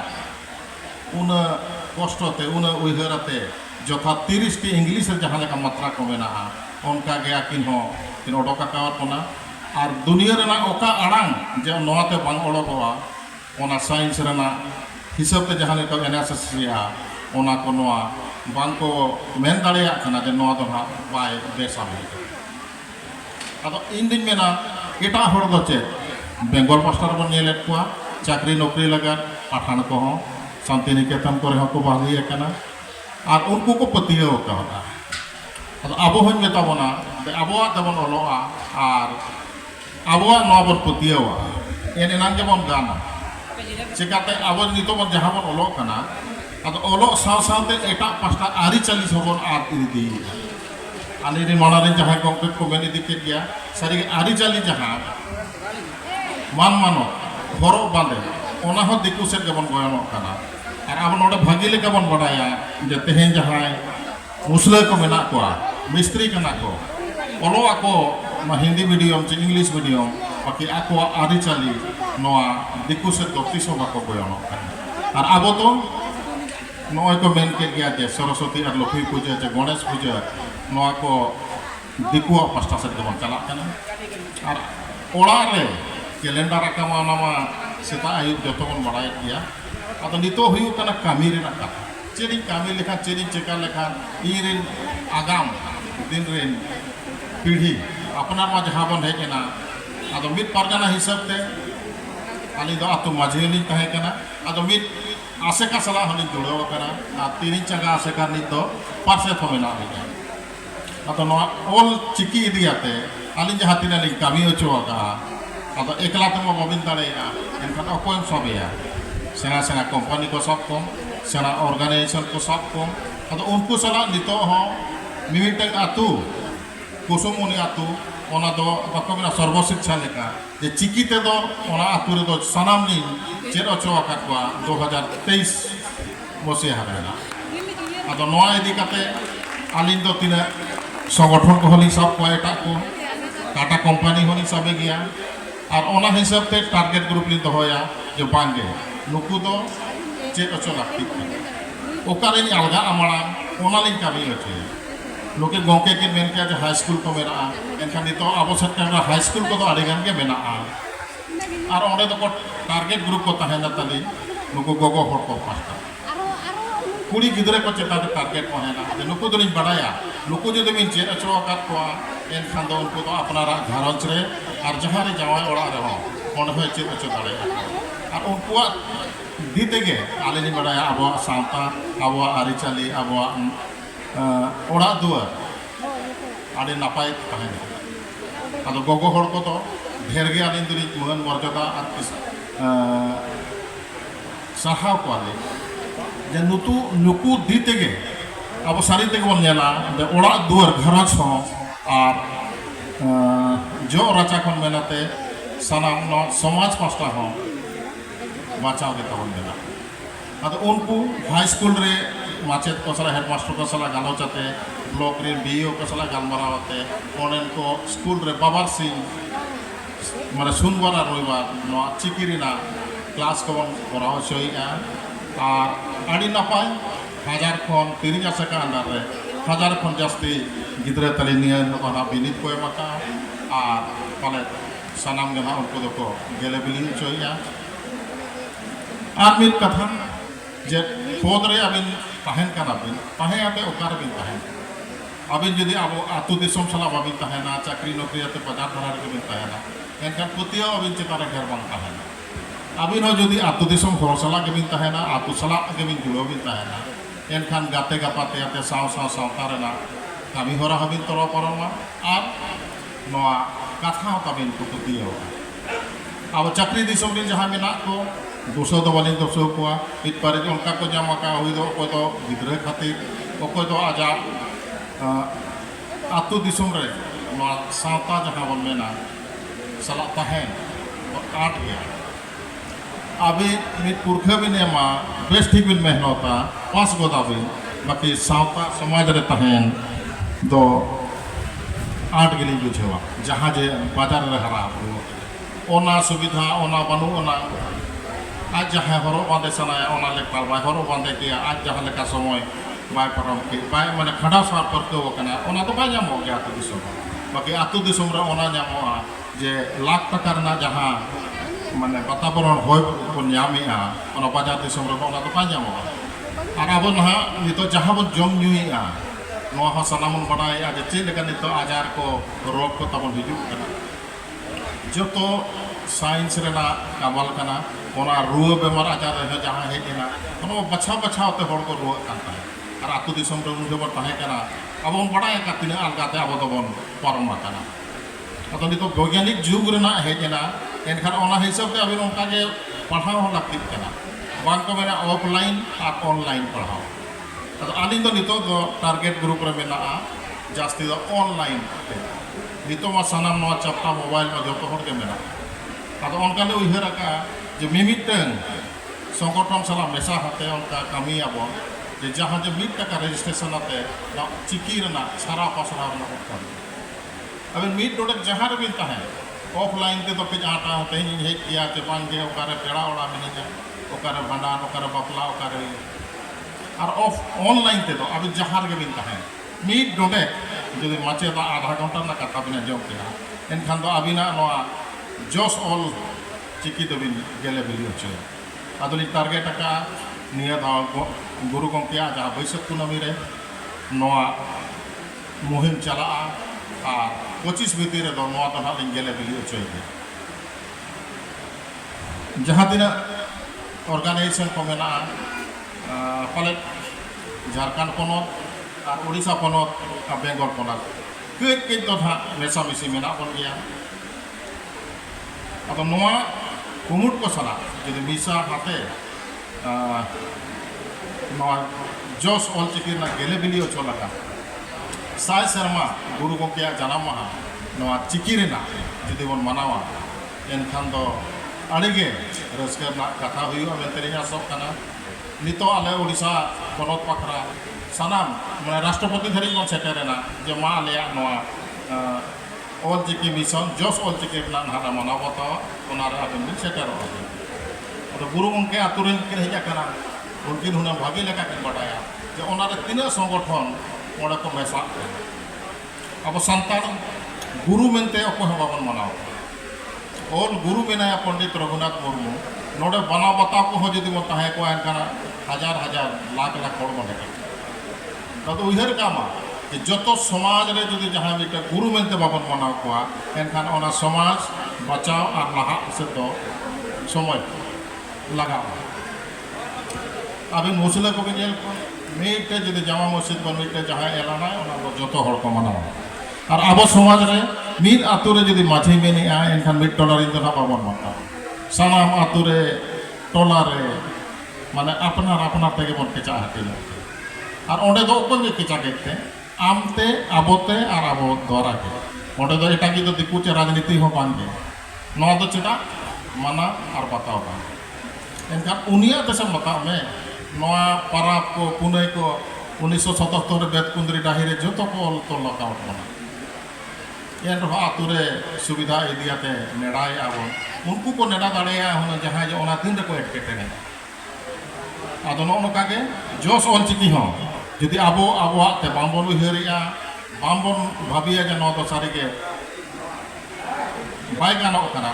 ᱩᱱᱟᱹᱜ ᱠᱚᱥᱴᱚ ᱛᱮ, ᱩᱱᱟᱹᱜ ᱩᱭᱦᱟᱹᱨ ᱟᱛᱮ ᱡᱚᱛᱷᱟᱛ ᱛᱤᱨᱤᱥ ᱴᱤ ᱤᱝᱞᱤᱥ ᱨᱮ ᱡᱟᱦᱟᱸ ᱞᱮᱠᱟ ᱢᱟᱛᱨᱟ ᱠᱚ ᱢᱮᱱᱟᱜᱼᱟ ᱚᱱᱠᱟ ᱜᱮ ᱟᱹᱠᱤᱱ ᱦᱚᱸ ᱠᱤᱱ ᱚᱰᱚᱠ ᱟᱠᱟᱣᱟᱫ ᱵᱚᱱᱟ ᱟᱨ ᱫᱩᱱᱤᱭᱟᱹ ᱨᱮᱱᱟᱜ ᱚᱠᱟ ᱟᱲᱟᱝ ᱡᱮ ᱱᱚᱣᱟ ᱛᱮ ᱵᱟᱝ ᱚᱰᱚᱠᱚᱜᱼᱟ ᱚᱱᱟ ᱥᱟᱭᱮᱱᱥ ᱨᱮᱱᱟᱜ ᱦᱤᱥᱟᱹᱵ ᱛᱮ ᱡᱟᱦᱟᱸ ᱱᱤᱛᱚᱜ ᱮᱱᱟᱞᱤᱥᱤᱥ ᱦᱩᱭᱩᱜᱼᱟ ᱚᱱᱟ ᱠᱚ ᱱᱚᱣᱟ ᱵᱟᱝ ᱠᱚ ᱢᱮᱱ ᱫᱟᱲᱮᱭᱟᱜ ᱠᱟᱱᱟ ᱡᱮ ᱱᱚᱣᱟ ᱫᱚ ᱱᱟᱦᱟᱜ ᱵᱟᱭ ᱵᱮᱥᱟ ᱢᱮᱱᱛᱮ ᱟᱫᱚ ᱤᱧ ᱫᱩᱧ ᱢᱮᱱᱟ ᱮᱴᱟᱜ ᱦᱚᱲ ᱫᱚ ᱪᱮᱫ ᱵᱮᱝᱜᱚᱞ ᱯᱟᱥᱴᱟ ᱨᱮᱵᱚᱱ ᱧᱮᱞᱮᱫ ᱠᱚᱣᱟ ᱪᱟᱹᱠᱨᱤ ᱱᱚᱠᱨᱤ ᱞᱟᱹᱜᱤᱫ ᱯᱟᱴᱷᱟᱱ ᱠᱚᱦᱚᱸ ᱥᱟᱱᱛᱤᱱᱤᱠᱮᱛᱚᱱ ᱠᱚᱨᱮ ᱦᱚᱸᱠᱚ ᱵᱟᱹᱦᱩᱭ ᱟᱠᱟᱱᱟ ᱟᱨ ᱩᱱᱠᱩ ᱠᱚ ᱯᱟᱹᱛᱭᱟᱹᱣ ᱟᱠᱟᱣᱟᱫᱼᱟ ᱟᱫᱚ ᱟᱵᱚ ᱦᱚᱧ ᱢᱮᱛᱟ ᱵᱚᱱᱟ ᱟᱵᱚᱣᱟᱜ ᱛᱮᱵᱚᱱ ᱚᱞᱚᱜᱼᱟ ᱟᱨ ᱟᱵᱚᱣᱟᱜ ᱱᱚᱣᱟ ᱵᱚᱱ ᱯᱟᱹᱛᱭᱟᱹᱣᱟᱜᱼᱟ ᱮᱱ ᱮᱱᱟᱝ ᱜᱮ ᱵᱚᱱ ᱜᱟᱱᱟ᱾ ᱪᱮᱠᱟᱛᱮ ᱟᱵᱚ ᱱᱤᱛᱚᱜ ᱵᱚᱱ ᱡᱟᱦᱟᱸ ᱵᱚᱱ ᱚᱞᱚᱜ ᱠᱟᱱᱟ ᱟᱫᱚ ᱚᱞᱚᱜ ᱥᱟᱶ ᱥᱟᱶᱛᱮ ᱮᱴᱟᱜ ᱯᱟᱥᱴᱟ ᱟᱹᱨᱤᱪᱟᱹᱞᱤ ᱦᱚᱸ ᱵᱚᱱ ᱟᱫ ᱤᱫᱤᱭᱮᱫᱼᱟ᱾ ᱟᱹᱞᱤᱧ ᱨᱮᱱ ᱢᱟᱲᱟᱝ ᱨᱮᱱ ᱡᱟᱦᱟᱸᱭ ᱜᱚᱢᱠᱮ ᱠᱚ ᱠᱚ ᱢᱮᱱ ᱤᱫᱤ ᱠᱮᱫ ᱜᱮᱭᱟ ᱥᱟᱹᱨᱤ ᱜᱮ ᱟᱹᱨᱤᱪᱟᱹᱞᱤ ᱡᱟᱦᱟᱸ ᱢᱟᱱ ᱢᱟᱱᱚᱛ ᱦᱚᱨᱚᱜ ᱵᱟᱸᱫᱮ ᱚᱱᱟ ᱦᱚᱸ ᱫᱤᱠᱩ ᱥᱮᱫ ᱜᱮ ᱵᱚᱱ ᱜᱚᱭᱚᱱᱚᱜ ᱠᱟᱱᱟ᱾ ᱟᱨ ᱟᱵᱚ ᱱᱚᱰᱮ ᱵᱷᱟᱹᱜᱤ ᱞᱮᱠᱟ ᱵᱚᱱ ᱵᱟᱰᱟᱭᱟ ᱡᱮ ᱛᱮᱦᱮᱧ ᱡᱟᱦᱟᱸᱭ ᱢᱩᱥᱞᱟᱹ ᱠᱚ ᱢᱮᱱᱟᱜ ᱠᱚᱣᱟ ᱢᱤᱥᱛᱨᱤ ᱠᱟᱱᱟ ᱠᱚ ᱚᱞᱚᱜ ᱟᱠᱚ ᱱᱚᱣᱟ ᱦᱤᱱᱫᱤ ᱢᱤᱰᱤᱭᱟᱢ ᱪᱮ ᱤᱝᱞᱤᱥ ᱢᱤᱰᱤᱭᱟᱢ ᱵᱟᱠᱤ ᱟᱠᱚᱣᱟᱜ ᱟᱹᱨᱤᱪᱟᱹᱞᱤ ᱱᱚᱣᱟ ᱫᱤᱠᱩ ᱥᱮᱫ ᱫᱚ ᱛᱤᱥ ᱦᱚᱸ ᱵᱟᱠᱚ ᱜᱚᱭᱚᱱᱚᱜ ᱠᱟᱱᱟ ᱟᱨ ᱟᱵᱚ ᱫᱚ ᱱᱚᱜᱼᱚᱭ ᱠᱚ ᱢᱮᱱ ᱠᱮᱫ ᱜᱮᱭᱟ ᱡᱮ ᱥᱚᱨᱚᱥᱚᱛᱤ ᱟᱨ ᱞᱚᱠᱷᱢᱤ ᱯᱩᱡᱟᱹ ᱪᱮ ᱜᱚᱱᱮᱥ ᱯᱩᱡᱟᱹ ᱱᱚᱣᱟ ᱠᱚ ᱫᱤᱠᱩᱣᱟᱜ ᱯᱟᱥᱴᱟ ᱥᱮᱫ ᱜᱮᱵᱚᱱ ᱪᱟᱞᱟᱜ ᱠᱟᱱᱟ ᱟᱨ ᱚᱲᱟᱜ ᱨᱮ ᱠᱮᱞᱮᱱᱰᱟᱨ ᱟᱠᱟᱱ ᱢᱟ ᱚᱱᱟ ᱢᱟ ᱥᱮᱛᱟᱜ ᱟᱹᱭᱩᱵ ᱡᱚᱛᱚ ᱵᱚᱱ ᱵᱟᱲᱟᱭᱮᱫ ᱜᱮᱭᱟ ᱟᱫᱚ ᱱᱤᱛᱚᱜ ᱦᱩᱭᱩᱜ ᱠᱟᱱᱟ ᱠᱟᱹᱢᱤ ᱨᱮᱱᱟᱜ ᱠᱟᱛᱷᱟ ᱪᱮᱫ ᱤᱧ ᱠᱟᱹᱢᱤ ᱞᱮᱠᱷᱟᱱ ᱪᱮᱫ ᱤᱧ ᱪᱮᱠᱟ ᱞᱮᱠᱷᱟᱱ ᱤᱧ ᱨᱮᱱ ᱟᱜᱟᱢ ᱫᱤᱱ ᱨᱮᱱ ᱯᱤᱲᱦᱤ ᱟᱯᱱᱟᱨ ᱢᱟ ᱡᱟᱦᱟᱸ ᱵᱚᱱ ᱦᱮᱡ ᱮᱱᱟ ᱟᱫᱚ ᱢᱤᱫ ᱯᱟᱨᱜᱟᱱᱟ ᱦᱤᱥᱟᱹᱵ ᱛᱮ ᱟᱹᱞᱤᱧ ᱫᱚ ᱟᱛᱳ ᱢᱟᱹᱡᱷᱤ ᱦᱚᱸᱞᱤᱧ ᱛᱟᱦᱮᱸ ᱠᱟᱱᱟ ᱟᱫᱚ ᱢᱤᱫ ᱟᱥᱮᱠᱟ ᱥᱟᱞᱟᱜ ᱦᱚᱸᱞᱤᱧ ᱡᱩᱲᱟᱹᱣ ᱟᱠᱟᱱᱟ ᱟᱨ ᱛᱤᱨᱤᱧ ᱪᱟᱸᱜᱟ ᱟᱥᱮᱠᱟ ᱨᱤᱱᱤᱡ ᱫᱚ ᱯᱟᱨᱥᱮᱛ ᱦᱚᱸ ᱢᱮᱱᱟᱜ ᱞᱤᱧᱟ ᱟᱫᱚ ᱱᱚᱣᱟ ᱚᱞ ᱪᱤᱠᱤ ᱤᱫᱤ ᱠᱟᱛᱮ ᱟᱹᱞᱤᱧ ᱡᱟᱦᱟᱸ ᱛᱤᱱᱟᱹᱜ ᱞᱤᱧ ᱠᱟᱹᱢᱤ ᱦᱚᱪᱚ ᱟᱠᱟᱫᱼᱟ ᱟᱫᱚ ᱮᱠᱞᱟ ᱛᱮᱢᱟ ᱵᱟᱹᱵᱤᱱ ᱫᱟᱲᱮᱭᱟᱜᱼᱟ ᱮᱱᱠᱷᱟᱱ ᱚᱠᱚᱭᱮᱢ ᱥᱟᱵᱮᱭᱟ ᱥᱮᱬᱟ ᱥᱮᱬᱟ ᱠᱳᱢᱯᱟᱱᱤ ᱠᱚ ᱥᱟᱵ ᱠᱚᱢ ᱥᱮᱬᱟ ᱚᱨᱜᱟᱱᱟᱭᱡᱮᱥᱚᱱ ᱠᱚ ᱥᱟᱵ ᱠᱚᱢ ᱟᱫᱚ ᱩᱱᱠᱩ ᱥᱟᱞᱟᱜ ᱱᱤᱛᱚᱜ ᱦᱚᱸ ᱢᱤᱢᱤᱫᱴᱟᱹᱝ ᱟᱹᱛᱩ ᱠᱩᱥᱩᱢᱩᱱᱤ ᱟᱹᱛᱩ ᱚᱱᱟ ᱫᱚ ᱵᱟᱠᱚ ᱢᱮᱱᱟ ᱥᱚᱨᱵᱚ ᱥᱤᱠᱪᱷᱟ ᱞᱮᱠᱟ ᱡᱮ ᱪᱤᱠᱤ ᱛᱮᱫᱚ ᱚᱱᱟ ᱟᱹᱛᱩ ᱨᱮᱫᱚ ᱥᱟᱱᱟᱢ ᱞᱤᱧ ᱪᱮᱫ ᱦᱚᱪᱚ ᱟᱠᱟᱫ ᱠᱚᱣᱟ ᱫᱩ ᱦᱟᱡᱟᱨ ᱛᱮᱭᱤᱥ ᱵᱚᱥᱮ ᱦᱟᱨᱮᱱᱟ ᱟᱫᱚ ᱱᱚᱣᱟ ᱤᱫᱤ ᱠᱟᱛᱮ ᱟᱹᱞᱤᱧ ᱫᱚ ᱛᱤᱱᱟᱹᱜ ᱥᱚᱝᱜᱚᱴᱷᱚᱱ ᱠᱚᱦᱚᱸ ᱞᱤᱧ ᱥᱟᱵ ᱠᱚᱣᱟ ᱮᱴᱟᱜ ᱠᱚ ᱴᱟᱴᱟ ᱠᱳᱢᱯᱟᱱᱤ ᱦᱚᱸ ᱞᱤᱧ ᱥᱟᱵᱮ ᱜᱮᱭᱟ ᱟᱨ ᱚᱱᱟ ᱦᱤᱥᱟᱹᱵ ᱛᱮ ᱴᱟᱨᱜᱮᱴ ᱜᱨᱩᱯ ᱞᱤᱧ ᱫᱚᱦᱚᱭᱟ ᱡᱮ ᱵᱟᱝᱜᱮ ᱱᱩᱠᱩ ᱫᱚ ᱪᱮᱫ ᱦᱚᱪᱚ ᱞᱟᱹᱠᱛᱤ ᱠᱟᱱᱟ ᱚᱠᱟᱨᱮᱧ ᱟᱞᱜᱟᱜᱼᱟ ᱢᱟᱲᱟᱝ ᱚᱱᱟ ᱞᱤᱧ ᱠᱟᱹᱢᱤ ᱦᱚᱪᱚᱭᱟ ᱱᱩᱠᱤᱱ ᱜᱚᱢᱠᱮ ᱠᱤᱱ ᱢᱮᱱ ᱠᱮᱜᱼᱟ ᱡᱮ ᱦᱟᱭ ᱥᱠᱩᱞ ᱠᱚ ᱢᱮᱱᱟᱜᱼᱟ ᱮᱱᱠᱷᱟᱱ ᱱᱤᱛᱚᱜ ᱟᱵᱚ ᱥᱮᱫ ᱦᱟᱭ ᱥᱠᱩᱞ ᱠᱚᱫᱚ ᱟᱹᱰᱤᱜᱟᱱ ᱜᱮ ᱢᱮᱱᱟᱜᱼᱟ ᱟᱨ ᱚᱸᱰᱮ ᱫᱚ ᱠᱚ ᱴᱟᱨᱜᱮᱴ ᱜᱨᱩᱯ ᱠᱚ ᱛᱟᱦᱮᱱᱟ ᱛᱟᱹᱞᱤᱧ ᱱᱩᱠᱩ ᱜᱚᱜᱚ ᱦᱚᱲ ᱠᱚ ᱯᱟᱥᱴᱟ ᱠᱩᱲᱤ ᱜᱤᱫᱽᱨᱟᱹ ᱠᱚ ᱪᱮᱛᱟᱱ ᱨᱮ ᱴᱟᱨᱜᱮᱴ ᱠᱚ ᱦᱮᱱᱟ ᱟᱫᱚ ᱱᱩᱠᱩ ᱫᱚᱞᱤᱧ ᱵᱟᱰᱟᱭᱟ ᱱᱩᱠᱩ ᱡᱩᱫᱤ ᱵᱤᱱ ᱪᱮᱫ ᱦᱚᱪᱚ ᱟᱠᱟᱫ ᱠᱚᱣᱟ ᱮᱱᱠᱷᱟᱱ ᱫᱚ ᱩᱱᱠᱩ ᱫᱚ ᱟᱯᱱᱟᱨᱟᱜ ᱜᱷᱟᱨᱚᱸᱡᱽ ᱨᱮ ᱟᱨ ᱡᱟᱦᱟᱸ ᱨᱮ ᱡᱟᱶᱟᱭ ᱚᱲᱟᱜ ᱨᱮᱦᱚᱸ ᱚᱸᱰᱮ ᱦᱚᱸᱭ ᱪᱮᱫ ᱦᱚᱪᱚ ᱫᱟᱲᱮᱭᱟᱜᱼᱟ ᱟᱨ ᱩᱱᱠᱩᱣᱟᱜ ᱫᱤ ᱛᱮᱜᱮ ᱟᱞᱮ ᱞᱤᱧ ᱵᱟᱰᱟᱭᱟ ᱟᱵᱚᱣᱟᱜ ᱥᱟᱶᱛᱟ ᱟᱵᱚᱣᱟᱜ ᱟᱹᱨᱤᱪᱟᱹᱞᱤ ᱟᱵᱚᱣᱟᱜ ᱚᱲᱟᱜ ᱫᱩᱣᱟᱹᱨ ᱟᱹᱰᱤ ᱱᱟᱯᱟᱭ ᱛᱟᱦᱮᱱᱟ ᱟᱫᱚ ᱜᱚᱜᱚ ᱦᱚᱲ ᱠᱚᱫᱚ ᱰᱷᱮᱨ ᱜᱮ ᱟᱹᱞᱤᱧ ᱫᱚᱞᱤᱧ ᱢᱟᱹᱱ ᱢᱚᱨᱡᱟᱫᱟ ᱟᱨ ᱥᱟᱨᱦᱟᱣ ᱠᱚᱣᱟᱞᱤᱧ ᱡᱮ ᱱᱩᱛᱩ ᱱᱩᱠᱩ ᱫᱤ ᱛᱮᱜᱮ ᱟᱵᱚ ᱥᱟᱹᱨᱤ ᱛᱮᱜᱮ ᱵᱚᱱ ᱧᱮᱞᱟ ᱚᱸᱰᱮ ᱚᱲᱟᱜ ᱫᱩᱣᱟᱹᱨ ᱜᱷᱟᱨᱚᱸᱡᱽ ᱦᱚᱸ ᱟᱨ ᱡᱚᱜ ᱨᱟᱪᱟ ᱠᱷᱚᱱ ᱢᱮᱱᱟᱛᱮ ᱥᱟᱱᱟᱢ ᱱᱚᱣᱟ ᱥᱚᱢᱟᱡᱽ ᱯᱟᱥᱴᱟ ᱦᱚᱸ ᱵᱟᱧᱪᱟᱣ ᱜᱮ ᱛᱟᱵᱚᱱ ᱢᱮᱱᱟᱜᱼᱟ ᱟᱫᱚ ᱩᱱᱠᱩ ᱦᱟᱭ ᱥᱠᱩᱞ ᱨᱮ ᱢᱟᱪᱮᱫ ᱠᱚ ᱥᱟᱞᱟᱜ ᱦᱮᱰ ᱢᱟᱥᱴᱟᱨ ᱠᱚ ᱥᱟᱞᱟᱜ ᱜᱟᱞᱚᱪ ᱟᱛᱮ ᱵᱞᱚᱠ ᱨᱮ ᱰᱤᱤᱳ ᱠᱚ ᱥᱟᱞᱟᱜ ᱜᱟᱞᱢᱟᱨᱟᱣ ᱟᱛᱮ ᱚᱸᱰᱮᱱ ᱠᱚ ᱥᱠᱩᱞ ᱨᱮ ᱵᱟᱵᱟᱨ ᱥᱤᱝ ᱢᱟᱱᱮ ᱥᱳᱢᱵᱟᱨ ᱟᱨ ᱨᱚᱵᱤᱵᱟᱨ ᱱᱚᱣᱟ ᱪᱤᱠᱤ ᱨᱮᱱᱟᱜ ᱠᱞᱟᱥ ᱠᱚᱵᱚᱱ ᱠᱚᱨᱟᱣ ᱦᱚᱪᱚᱭᱮᱫᱼᱟ ᱟᱨ ᱟᱹᱰᱤ ᱱᱟᱯᱟᱭ ᱦᱟᱡᱟᱨ ᱠᱷᱚᱱ ᱛᱤᱨᱤᱧ ᱟᱥᱮᱠᱟ ᱟᱱᱰᱟᱨ ᱨᱮ ᱦᱟᱡᱟᱨ ᱠᱷᱚᱱ ᱡᱟᱹᱥᱛᱤ ᱜᱤᱫᱽᱨᱟᱹ ᱛᱟᱹᱞᱤᱢ ᱱᱤᱭᱟᱹ ᱱᱚᱜᱼᱚ ᱱᱟ ᱵᱤᱱᱤᱰ ᱠᱚ ᱮᱢ ᱟᱠᱟᱫᱼᱟ ᱟᱨ ᱯᱟᱞᱮᱫ ᱥᱟᱱᱟᱢ ᱜᱮ ᱱᱟᱦᱟᱜ ᱩᱱᱠᱩ ᱫᱚᱠᱚ ᱜᱮᱞᱮ ᱵᱤᱞᱤ ᱦᱚᱪᱚᱭᱮᱫᱼᱟ ᱟᱨ ᱢᱤᱫ ᱠᱟᱛᱷᱟ ᱡᱮ ᱯᱚᱫ ᱨᱮ ᱟᱹᱵᱤᱱ ᱛᱟᱦᱮᱱ ᱠᱟᱱᱟᱵᱤᱱ ᱛᱟᱦᱮᱸ ᱟᱛᱮ ᱚᱠᱟᱨᱮᱵᱤᱱ ᱛᱟᱦᱮᱱ ᱟᱹᱵᱤᱱ ᱡᱩᱫᱤ ᱟᱵᱚ ᱟᱛᱳ ᱫᱤᱥᱚᱢ ᱥᱟᱞᱟᱜ ᱵᱟᱵᱤᱱ ᱛᱟᱦᱮᱱᱟ ᱪᱟᱹᱠᱨᱤ ᱱᱚᱠᱨᱤ ᱟᱛᱮ ᱵᱟᱡᱟᱨ ᱫᱷᱟᱨᱟ ᱨᱮᱜᱮ ᱵᱤᱱ ᱛᱟᱦᱮᱱᱟ ᱮᱱᱠᱷᱟᱱ ᱯᱟᱹᱛᱭᱟᱹᱣ ᱟᱹᱵᱤᱱ ᱪᱮᱛᱟᱱ ᱨᱮ ᱰᱷᱮᱨ ᱵᱟᱝ ᱛᱟᱦᱮᱱᱟ ᱟᱹᱵᱤᱱ ᱦᱚᱸ ᱡᱩᱫᱤ ᱟᱛᱳ ᱫᱤᱥᱚᱢ ᱦᱚᱲ ᱥᱟᱞᱟᱜ ᱜᱮᱵᱤᱱ ᱛᱟᱦᱮᱱᱟ ᱟᱛᱳ ᱥᱟᱞᱟᱜ ᱜᱮᱵᱤᱱ ᱡᱩᱲᱟᱹᱣ ᱵᱤᱱ ᱛᱟᱦᱮᱱᱟ ᱮᱱᱠᱷᱟᱱ ᱜᱟᱛᱮ ᱜᱟᱯᱟᱛᱮ ᱟᱛᱮ ᱥᱟᱶ ᱥᱟᱶ ᱥᱟᱶᱛᱟ ᱨᱮᱱᱟᱜ ᱠᱟᱹᱢᱤ ᱦᱚᱨᱟ ᱦᱚᱸᱵᱤᱱ ᱛᱚᱨᱟᱣ ᱯᱟᱨᱚᱢᱟ ᱟᱨ ᱱᱚᱣᱟ ᱠᱟᱛᱷᱟ ᱦᱚᱸ ᱛᱟᱹᱵᱤᱱ ᱠᱚ ᱯᱟᱹᱛᱭᱟᱹᱣᱟ ᱟᱵᱚ ᱪᱟᱹᱠᱨᱤ ᱫᱤᱥᱚᱢ ᱨᱮ ᱡᱟᱦᱟᱸ ᱢᱮᱱᱟᱜ ᱠᱚ ᱫᱩᱥᱟᱹᱣ ᱫᱚ ᱵᱟᱹᱞᱤᱧ ᱫᱩᱥᱟᱹᱣ ᱠᱚᱣᱟ ᱢᱤᱫ ᱵᱟᱨ ᱜᱮ ᱚᱱᱠᱟ ᱠᱚ ᱧᱟᱢ ᱟᱠᱟᱫ ᱦᱩᱭ ᱫᱚ ᱚᱠᱚᱭ ᱫᱚ ᱜᱤᱫᱽᱨᱟᱹ ᱠᱷᱟᱹᱛᱤᱨ ᱚᱠᱚᱭ ᱫᱚ ᱟᱡᱟᱜ ᱟᱛᱳ ᱫᱤᱥᱚᱢ ᱨᱮ ᱱᱚᱣᱟ ᱥᱟᱶᱛᱟ ᱡᱟᱦᱟᱸ ᱵᱚᱱ ᱢᱮᱱᱟ ᱥᱟᱞᱟᱜ ᱛᱟᱦᱮᱱ ᱟᱸᱴ ᱜᱮᱭᱟ ᱟᱹᱵᱤᱱ ᱢᱤᱫ ᱯᱩᱨᱠᱷᱟᱹ ᱵᱤᱱ ᱮᱢᱟ ᱵᱮᱥ ᱴᱷᱤᱠ ᱵᱤᱱ ᱢᱮᱦᱱᱚᱛᱟ ᱯᱟᱥ ᱜᱚᱫᱟᱵᱤᱱ ᱵᱟᱹᱠᱤ ᱥᱟᱶᱛᱟ ᱥᱚᱢᱟᱡᱽ ᱨᱮ ᱛᱟᱦᱮᱱ ᱫᱚ ᱟᱸᱴ ᱜᱮᱞᱤᱧ ᱵᱩᱡᱷᱟᱹᱣᱟ ᱡᱟᱦᱟᱸ ᱡᱮ ᱵᱟᱡᱟᱨ ᱨᱮ ᱦᱟᱨᱟ ᱟᱠᱟᱱ ᱚᱱᱟ ᱥᱩᱵᱤᱫᱷᱟ ᱚᱱᱟ ᱵᱟᱹᱱᱩᱜ ᱟᱱᱟ ᱟᱡ ᱡᱟᱦᱟᱸ ᱦᱚᱨᱚᱜ ᱵᱟᱸᱫᱮ ᱥᱟᱱᱟᱭᱟ ᱚᱱᱟ ᱞᱮᱠᱟ ᱵᱟᱭ ᱦᱚᱨᱚᱜ ᱵᱟᱸᱫᱮ ᱠᱮᱭᱟ ᱟᱡ ᱡᱟᱦᱟᱸ ᱞᱮᱠᱟ ᱥᱚᱢᱚᱭ ᱵᱟᱭ ᱯᱟᱨᱚᱢ ᱠᱮ ᱵᱟᱭ ᱢᱟᱱᱮ ᱠᱷᱟᱸᱰᱟᱣ ᱥᱟᱶ ᱯᱟᱹᱨᱠᱟᱹᱣ ᱟᱠᱟᱱᱟ ᱚᱱᱟ ᱫᱚ ᱵᱟᱭ ᱧᱟᱢᱚᱜ ᱜᱮᱭᱟ ᱟᱛᱳ ᱫᱤᱥᱚᱢ ᱨᱮ ᱵᱟᱹᱠᱤ ᱟᱛᱳ ᱫᱤᱥᱚᱢ ᱨᱮ ᱚᱱᱟ ᱧᱟᱢᱚᱜᱼᱟ ᱡᱮ ᱞᱟᱠᱷ ᱴᱟᱠᱟ ᱨᱮᱱᱟᱜ ᱡᱟᱦᱟᱸ ᱢᱟᱱᱮ ᱵᱟᱛᱟᱵᱚᱨᱚᱱ ᱦᱚᱭ ᱵᱚᱱ ᱧᱟᱢᱮᱜᱼᱟ ᱚᱱᱟ ᱵᱟᱡᱟᱨ ᱫᱤᱥᱚᱢ ᱨᱮ ᱚᱱᱟ ᱫᱚ ᱵᱟᱭ ᱧᱟᱢᱚᱜᱼᱟ ᱟᱨ ᱟᱵᱚ ᱱᱟᱦᱟᱜ ᱱᱤᱛᱚᱜ ᱡᱟᱦᱟᱸ ᱵᱚᱱ ᱡᱚᱢ ᱧᱩᱭᱮᱜᱼᱟ ᱱᱚᱣᱟ ᱦᱚᱸ ᱥᱟᱱᱟᱢ ᱵᱚᱱ ᱵᱟᱰᱟᱭᱮᱜᱼᱟ ᱡᱮ ᱪᱮᱫ ᱞᱮᱠᱟ ᱱᱤᱛᱚᱜ ᱟᱡᱟᱨ ᱠᱚ ᱨᱳᱜᱽ ᱠᱚ ᱛᱟᱵᱚᱱ ᱦᱤᱡᱩᱜ ᱠᱟᱱᱟ ᱡᱚᱛᱚ ᱥᱟᱭᱮᱱᱥ ᱨᱮᱱᱟᱜ ᱠᱟᱢᱟᱞ ᱠᱟᱱᱟ ᱚᱱᱟ ᱨᱩᱣᱟᱹ ᱵᱮᱢᱟᱨ ᱟᱡᱟᱨ ᱨᱮᱦᱚᱸ ᱡᱟᱦᱟᱸ ᱦᱮᱡ ᱮᱱᱟ ᱚᱱᱟ ᱵᱟᱪᱷᱟᱣ ᱵᱟᱪᱷᱟᱣ ᱛᱮ ᱦᱚᱲ ᱠᱚ ᱨᱩᱣᱟᱹᱜ ᱠᱟᱱ ᱛᱟᱦᱮᱸᱫ ᱟᱨ ᱟᱛᱳ ᱫᱤᱥᱚᱢ ᱨᱮ ᱩᱱ ᱡᱚᱠᱷᱚᱱ ᱛᱟᱦᱮᱸ ᱠᱟᱱᱟ ᱟᱵᱚ ᱵᱚᱱ ᱵᱟᱰᱟᱭ ᱟᱠᱟᱫ ᱛᱤᱱᱟᱹᱜ ᱟᱞᱜᱟᱛᱮ ᱟᱵᱚ ᱫᱚᱵᱚᱱ ᱯᱟᱨᱚᱢ ᱟᱠᱟᱱᱟ ᱟᱫᱚ ᱱᱤᱛᱚᱜ ᱵᱚᱭᱜᱟᱱᱤᱠ ᱡᱩᱜᱽ ᱨᱮᱱᱟᱜ ᱦᱮᱡ ᱮᱱᱟ ᱮᱱᱠᱷᱟᱱ ᱚᱱᱟ ᱦᱤᱥᱟᱹᱵ ᱛᱮ ᱟᱵᱤᱱ ᱚᱱᱠᱟ ᱜᱮ ᱯᱟᱲᱦᱟᱣ ᱦᱚᱸ ᱞᱟᱹᱠᱛᱤᱜ ᱠᱟᱱᱟ ᱵᱟᱝ ᱠᱚ ᱢᱮᱱᱟ ᱚᱯᱷᱞᱟᱭᱤᱱ ᱟᱨ ᱚᱱᱞᱟᱭᱤᱱ ᱯᱟᱲᱦᱟᱣ ᱟᱫᱚ ᱟᱹᱞᱤᱧ ᱫᱚ ᱱᱤᱛᱚᱜ ᱫᱚ ᱴᱟᱨᱜᱮᱴ ᱜᱨᱩᱯ ᱨᱮ ᱢᱮᱱᱟᱜᱼᱟ ᱡᱟᱹᱥᱛᱤ ᱫᱚ ᱚᱱᱞᱟᱭᱤᱱ ᱛᱮ ᱱᱤᱛᱚᱜ ᱢᱟ ᱥᱟᱱᱟᱢ ᱱᱚᱣᱟ ᱪᱟᱯᱴᱟ ᱢᱳᱵᱟᱭᱤᱞ ᱢᱟ ᱡᱚᱛᱚ ᱦᱚᱲ ᱜᱮ ᱢᱮᱱᱟᱜᱼᱟ ᱟᱫᱚ ᱚᱱᱠᱟ ᱞᱮ ᱩᱭᱦᱟᱹᱨ ᱟᱠᱟᱜᱼᱟ ᱡᱮ ᱢᱤᱢᱤᱫᱴᱟᱹᱝ ᱥᱚᱝᱜᱚᱴᱷᱚᱱ ᱥᱟᱞᱟᱜ ᱢᱮᱥᱟ ᱠᱟᱛᱮ ᱚᱱᱠᱟ ᱠᱟᱹᱢᱤᱭᱟᱵᱚᱱ ᱡᱮ ᱡᱟᱦᱟᱸ ᱡᱮ ᱢᱤᱫ ᱴᱟᱠᱟ ᱨᱮᱡᱤᱥᱴᱨᱮᱥᱚᱱ ᱟᱛᱮ ᱱᱚᱣᱟ ᱪᱤᱠᱤ ᱨᱮᱱᱟᱜ ᱥᱟᱨᱟᱣ ᱯᱟᱥᱱᱟᱣ ᱨᱮᱱᱟᱜ ᱵᱚᱱ ᱠᱟᱹᱢᱤᱭᱟ ᱟᱵᱮᱱ ᱢᱤᱫ ᱰᱚᱰᱮᱠ ᱡᱟᱦᱟᱸ ᱨᱮᱵᱤᱱ ᱛᱟᱦᱮᱱ ᱚᱯᱷᱞᱟᱭᱤᱱ ᱛᱮᱫᱚ ᱠᱟᱹᱡ ᱟᱸᱴ ᱟᱸᱴ ᱛᱮᱦᱮᱧ ᱤᱧ ᱦᱮᱡ ᱠᱮᱭᱟ ᱪᱮ ᱵᱟᱝ ᱜᱮ ᱚᱠᱟᱨᱮ ᱯᱮᱲᱟ ᱚᱲᱟᱜ ᱢᱤᱱᱟᱹᱧᱟ ᱚᱠᱟᱨᱮ ᱵᱷᱟᱸᱰᱟᱱ ᱚᱠᱟᱨᱮ ᱵᱟᱯᱞᱟ ᱚᱠᱟᱨᱮ ᱤᱭᱟᱹ ᱟᱨ ᱚᱯᱷ ᱚᱱᱞᱟᱭᱤᱱ ᱛᱮᱫᱚ ᱟᱵᱮᱱ ᱡᱟᱦᱟᱸ ᱨᱮᱜᱮ ᱵᱤᱱ ᱛᱟᱦᱮᱱ ᱢᱤᱫ ᱰᱚᱰᱮᱠ ᱡᱩᱫᱤ ᱢᱟᱪᱮᱫᱟᱜ ᱟᱫᱷᱟ ᱜᱷᱚᱱᱴᱟ ᱨᱮᱱᱟᱜ ᱠᱟᱛᱷᱟ ᱵᱤᱱ ᱟᱸᱡᱚᱢ ᱠᱮᱫᱟ ᱮᱱᱠᱷᱟᱱ ᱫᱚ ᱟᱹᱵᱤᱱᱟᱜ ᱱᱚᱣᱟ ᱡᱚᱥ ᱚᱞ ᱪᱤᱠᱤ ᱫᱚᱵᱤᱱ ᱜᱮᱞᱮ ᱵᱤᱞᱤ ᱦᱚᱪᱚᱭᱟ ᱟᱫᱚᱞᱤᱧ ᱴᱟᱨᱜᱮᱴ ᱟᱠᱟᱫᱼᱟ ᱱᱤᱭᱟᱹ ᱫᱷᱟᱣ ᱜᱩᱨᱩ ᱜᱚᱢᱠᱮᱭᱟᱜ ᱡᱟᱦᱟᱸ ᱵᱟᱹᱭᱥᱟᱹᱠᱷ ᱠᱩᱱᱟᱹᱢᱤ ᱨᱮ ᱱᱚᱣᱟ ᱢᱩᱦᱤᱢ ᱪᱟᱞᱟᱜᱼᱟ ᱟᱨ ᱯᱚᱸᱪᱤᱥ ᱵᱷᱤᱛᱤᱨ ᱨᱮᱫᱚ ᱱᱚᱣᱟ ᱫᱚ ᱱᱟᱦᱟᱜ ᱞᱤᱧ ᱜᱮᱞᱮ ᱵᱤᱞᱤ ᱚᱪᱚᱭ ᱜᱮᱭᱟ᱾ ᱡᱟᱦᱟᱸ ᱛᱤᱱᱟᱹᱜ ᱚᱨᱜᱟᱱᱟᱭᱤᱡᱮᱥᱚᱱ ᱠᱚ ᱢᱮᱱᱟᱜᱼᱟ ᱯᱟᱞᱮᱫ ᱡᱷᱟᱨᱠᱷᱚᱸᱰ ᱯᱚᱱᱚᱛ ᱟᱨ ᱳᱰᱤᱥᱟ ᱯᱚᱱᱚᱛ ᱟᱨ ᱵᱮᱝᱜᱚᱞ ᱯᱚᱱᱚᱛ ᱠᱟᱹᱡ ᱠᱟᱹᱡ ᱫᱚ ᱱᱟᱦᱟᱜ ᱢᱮᱥᱟ ᱢᱤᱥᱤ ᱢᱮᱱᱟᱜ ᱵᱚᱱ ᱜᱮᱭᱟ᱾ ᱟᱫᱚ ᱱᱚᱣᱟ ᱠᱩᱢᱩᱴ ᱠᱚ ᱥᱟᱞᱟᱜ ᱡᱩᱫᱤ ᱢᱤᱫ ᱥᱟᱶ ᱠᱟᱛᱮ ᱱᱚᱣᱟ ᱡᱚᱥ ᱚᱞᱪᱤᱠᱤ ᱨᱮᱱᱟᱜ ᱜᱮᱞᱮᱵᱤᱞᱤ ᱚᱪᱚ ᱞᱟᱜᱟᱱ ᱥᱟᱭ ᱥᱮᱨᱢᱟ ᱜᱩᱨᱩ ᱜᱚᱢᱠᱮᱭᱟᱜ ᱡᱟᱱᱟᱢ ᱢᱟᱦᱟ ᱱᱚᱣᱟ ᱪᱤᱠᱤ ᱨᱮᱱᱟᱜ ᱡᱩᱫᱤ ᱵᱚᱱ ᱢᱟᱱᱟᱣᱟ ᱮᱱᱠᱷᱟᱱ ᱫᱚ ᱟᱹᱰᱤᱜᱮ ᱨᱟᱹᱥᱠᱟᱹ ᱨᱮᱱᱟᱜ ᱠᱟᱛᱷᱟ ᱦᱩᱭᱩᱜᱼᱟ ᱢᱮᱱᱛᱮ ᱞᱤᱧ ᱟᱥᱚᱜ ᱠᱟᱱᱟ ᱱᱤᱛᱚᱜ ᱟᱞᱮ ᱳᱰᱤᱥᱟ ᱯᱚᱱᱚᱛ ᱵᱟᱠᱷᱨᱟ ᱥᱟᱱᱟᱢ ᱢᱟᱱᱮ ᱨᱟᱥᱴᱨᱚᱯᱚᱛᱤ ᱫᱷᱟᱹᱨᱤᱡ ᱵᱚᱱ ᱥᱮᱴᱮᱨᱮᱱᱟ ᱡᱮ ᱢᱟ ᱟᱞᱮᱭᱟᱜ ᱱᱚᱣᱟ ᱚᱞᱪᱤᱠᱤ ᱢᱤᱥᱚᱱ ᱡᱚᱥ ᱚᱞᱪᱤᱠᱤ ᱨᱮᱱᱟᱜ ᱱᱟᱦᱟᱜ ᱞᱮ ᱢᱟᱱᱟᱣ ᱵᱟᱛᱟᱣᱟ ᱚᱱᱟᱨᱮ ᱟᱵᱮᱱ ᱵᱮᱱ ᱥᱮᱴᱮᱨᱚᱜᱼᱟ ᱟᱫᱚ ᱜᱩᱨᱩ ᱜᱚᱢᱠᱮ ᱟᱛᱳ ᱨᱮ ᱠᱤᱱ ᱦᱮᱡ ᱟᱠᱟᱱᱟ ᱩᱱᱠᱤᱱ ᱦᱩᱱᱟᱹᱝ ᱵᱷᱟᱹᱜᱤ ᱞᱮᱠᱟ ᱠᱤᱱ ᱵᱟᱰᱟᱭᱟ ᱡᱮ ᱚᱱᱟ ᱨᱮ ᱛᱤᱱᱟᱹᱜ ᱥᱚᱝᱜᱚᱴᱷᱚᱱ ᱚᱸᱰᱮ ᱠᱚ ᱢᱮᱥᱟᱜ ᱠᱟᱱᱟ ᱟᱵᱚ ᱥᱟᱱᱛᱟᱲ ᱜᱩᱨᱩ ᱢᱮᱱᱛᱮ ᱚᱠᱚᱭ ᱦᱚᱸ ᱵᱟᱵᱚᱱ ᱢᱟᱱᱟᱣ ᱚᱞ ᱜᱩᱨᱩ ᱢᱮᱱᱟᱭᱟ ᱯᱚᱱᱰᱤᱛ ᱨᱚᱜᱷᱩᱱᱟᱛᱷ ᱢᱩᱨᱢᱩ ᱱᱚᱰᱮ ᱵᱟᱱᱟᱣ ᱵᱟᱛᱟᱣ ᱠᱚᱦᱚᱸ ᱡᱩᱫᱤ ᱵᱚᱱ ᱛᱟᱦᱮᱸ ᱠᱚᱜᱼᱟ ᱮᱱᱠᱷᱟᱱ ᱦᱟᱡᱟᱨ ᱦᱟᱡᱟᱨ ᱞᱟᱠᱷ ᱞᱟᱠᱷ ᱦᱚᱲ ᱵᱚᱱ ᱦᱮᱡ ᱠᱚᱜᱼᱟ ᱱᱚᱣᱟ ᱫᱚ ᱩᱭᱦᱟᱹᱨ ᱠᱟᱜ ᱢᱟ ᱡᱮ ᱡᱚᱛᱚ ᱥᱚᱢᱟᱡᱽ ᱨᱮ ᱡᱩᱫᱤ ᱡᱟᱦᱟᱸᱭ ᱢᱤᱫᱴᱟᱝ ᱜᱩᱨᱩ ᱢᱮᱱᱛᱮ ᱵᱟᱵᱚᱱ ᱢᱟᱱᱟᱣ ᱠᱚᱣᱟ ᱮᱱᱠᱷᱟᱱ ᱚᱱᱟ ᱥᱚᱢᱟᱡᱽ ᱵᱟᱪᱟᱣ ᱟᱨ ᱞᱟᱦᱟᱜ ᱥᱮᱫ ᱫᱚ ᱥᱚᱢᱚᱭ ᱞᱟᱜᱟᱜᱼᱟ ᱟᱹᱵᱤᱱ ᱢᱩᱥᱞᱟᱹ ᱠᱚᱵᱤᱱ ᱧᱮᱞ ᱠᱚᱣᱟ ᱢᱤᱫᱴᱮᱱ ᱡᱩᱫᱤ ᱡᱟᱢᱟ ᱢᱚᱥᱡᱤᱫ ᱵᱚᱱ ᱢᱤᱫᱴᱮᱱ ᱡᱟᱦᱟᱸᱭ ᱮᱞᱟᱱᱟᱭ ᱚᱱᱟ ᱫᱚ ᱡᱚᱛᱚ ᱦᱚᱲ ᱠᱚ ᱢᱟᱱᱟᱣᱟ ᱟᱨ ᱟᱵᱚ ᱥᱚᱢᱟᱡᱽ ᱨᱮ ᱢᱤᱫ ᱟᱛᱳ ᱨᱮ ᱡᱩᱫᱤ ᱢᱟᱹᱡᱷᱤ ᱢᱮᱱᱮᱜᱼᱟ ᱮᱱᱠᱷᱟᱱ ᱢᱤᱫ ᱴᱚᱞᱟ ᱨᱮᱱ ᱫᱚ ᱱᱟᱦᱟᱜ ᱵᱟᱵᱚᱱ ᱢᱟᱱᱟᱣᱟ ᱥᱟᱱᱟᱢ ᱟᱛᱳ ᱨᱮ ᱴᱚᱞᱟ ᱨᱮ ᱢᱟᱱᱮ ᱟᱯᱱᱟᱨ ᱟᱯᱱᱟᱨ ᱛᱮᱜᱮ ᱵᱚᱱ ᱠᱮᱪᱟᱜ ᱦᱟᱹᱴᱤᱧᱚᱜ ᱠᱟᱱᱟ ᱟᱨ ᱚᱸᱰᱮ ᱫᱚ ᱚᱠᱚᱭ ᱢᱤᱫ ᱠᱮᱪᱟ ᱠᱮᱫ ᱛᱮ ᱟᱢ ᱛᱮ ᱟᱵᱚ ᱛᱮ ᱟᱨ ᱟᱵᱚ ᱫᱚᱨᱟ ᱜᱮ ᱚᱸᱰᱮ ᱫᱚ ᱮᱴᱟᱜ ᱫᱚ ᱫᱤᱠᱩ ᱪᱮ ᱨᱟᱡᱽᱱᱤᱛᱤ ᱦᱚᱸ ᱵᱟᱝ ᱜᱮ ᱱᱚᱣᱟ ᱫᱚ ᱪᱮᱫᱟᱜ ᱢᱟᱱᱟ ᱟᱨ ᱵᱟᱛᱟᱣ ᱵᱟᱝ ᱮᱱᱠᱷᱟᱱ ᱩᱱᱤᱭᱟᱜ ᱫᱮᱥᱮ ᱢᱟᱛᱟᱣ ᱢᱮ ᱱᱚᱣᱟ ᱯᱟᱨᱟᱵᱽ ᱠᱚ ᱯᱩᱱᱟᱹᱭ ᱠᱚ ᱩᱱᱤᱥᱥᱚ ᱥᱟᱛᱟᱛᱛᱚᱨ ᱨᱮ ᱵᱮᱫ ᱠᱩᱸᱫᱽᱨᱤ ᱰᱟᱹᱦᱤ ᱨᱮ ᱡᱚᱛᱚ ᱠᱚ ᱚᱞ ᱛᱚᱞ ᱟᱠᱟᱣᱟᱫ ᱵᱚᱱᱟ ᱮᱱ ᱨᱮᱦᱚᱸ ᱟᱛᱳ ᱨᱮ ᱥᱩᱵᱤᱫᱷᱟ ᱤᱫᱤᱭᱟᱛᱮ ᱱᱮᱰᱟᱭᱮᱫᱼᱟ ᱵᱚᱱ ᱩᱱᱠᱩ ᱠᱚ ᱱᱮᱰᱟ ᱫᱟᱲᱮᱭᱟᱜᱼᱟ ᱦᱩᱱᱟᱹᱝ ᱡᱟᱦᱟᱸᱭ ᱡᱮ ᱚᱱᱟ ᱫᱤᱱ ᱨᱮᱠᱚ ᱮᱴᱠᱮᱴᱚᱬᱮᱜᱼᱟ ᱟᱫᱚ ᱱᱚᱜᱼᱚ ᱱᱚᱝᱠᱟ ᱜᱮ ᱡᱚᱥ ᱚᱞᱪᱤᱠᱤ ᱦᱚᱸ ᱡᱩᱫᱤ ᱟᱵᱚ ᱟᱵᱚᱣᱟᱜ ᱛᱮ ᱵᱟᱝᱵᱚᱱ ᱩᱭᱦᱟᱹᱨᱮᱜᱼᱟ ᱵᱟᱝᱵᱚᱱ ᱵᱷᱟᱹᱵᱤᱭᱟ ᱡᱮ ᱱᱚᱣᱟ ᱫᱚ ᱥᱟᱹᱨᱤᱜᱮ ᱵᱟᱭ ᱜᱟᱱᱚᱜ ᱠᱟᱱᱟ